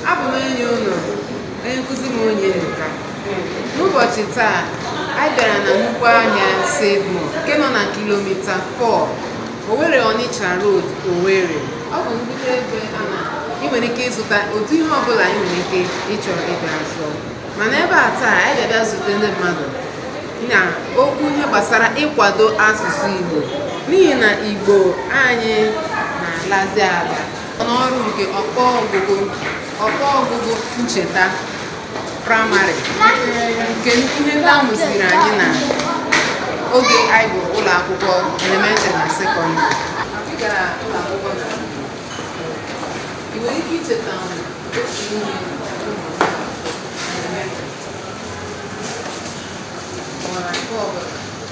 abụ m enyi unu onye nkụzi m onye nka n'ụbọchị taa anyị bịara na nnukwu ahịa Savemore nke nọ na kilomita 4 Owerri Onitsha Road Owerri ọ bụ nnukwu ebe a na ị nwere ike ịzụta otu ihe ọbụla ị nwere ike ịchọ ịbịa zụọ mana ebe a taa anyị ga-abịa zute ndị mmadụ na okwu ihe gbasara ịkwado asụsụ Igbo n'ihi na Igbo anyị na-alazi ala n'ọrụ nke ọkpọ ọgụgụ ọkpọ ọgụgụ ncheta praịmarị nke ihe ndị a kụziri anyị na oge anyị bụ ụlọ akwụkwọ elementrị na sekọndịrị Ị gara ụlọ akwụkwọ na ị nwere ike icheta otu ihe elementrị ma ọ na nke ọ bụla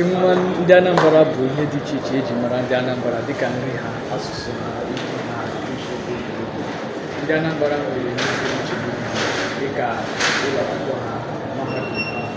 emume ndị Anambra bụ ihe dị iche iche eji mara ndị Anambra dịka nri ha asụsụ ha ndị Anambra nwere ihe dị iche dịka ụlọ akwụkwọ ha mahadum ha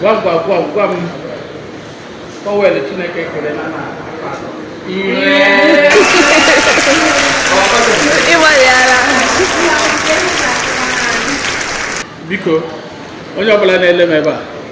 Gwam gwam gwam gwam tọwel Chineke kere na na ịgbalịala biko onye ọbụla na-ele m ebe a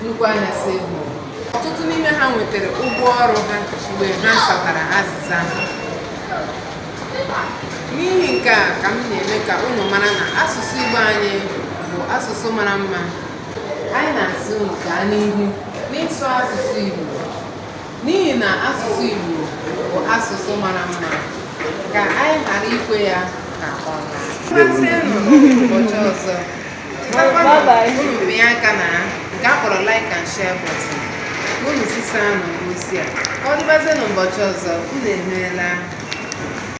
nnukwu ahịa Savemore. Ọtụtụ n'ime ha nwetara ụgwọ ọrụ ha mgbe ha zatara azịza ha. N'ihi nke a ka m na-eme ka unu mara na asụsụ Igbo anyị bụ asụsụ mara mma. Anyị na-asị unu gaa n'ihu n'ịsụ asụsụ Igbo n'ihi na asụsụ Igbo bụ asụsụ mara mma ka anyị ghara ikwe ya ka ọ laa. Mmasị nụ ụbọchị ọzọ. pịa aka na nke a kpọrọ like and share button unu zisaanụ ozi a ka ọ dịbazienụ ụbọchị ọzọ unu emeela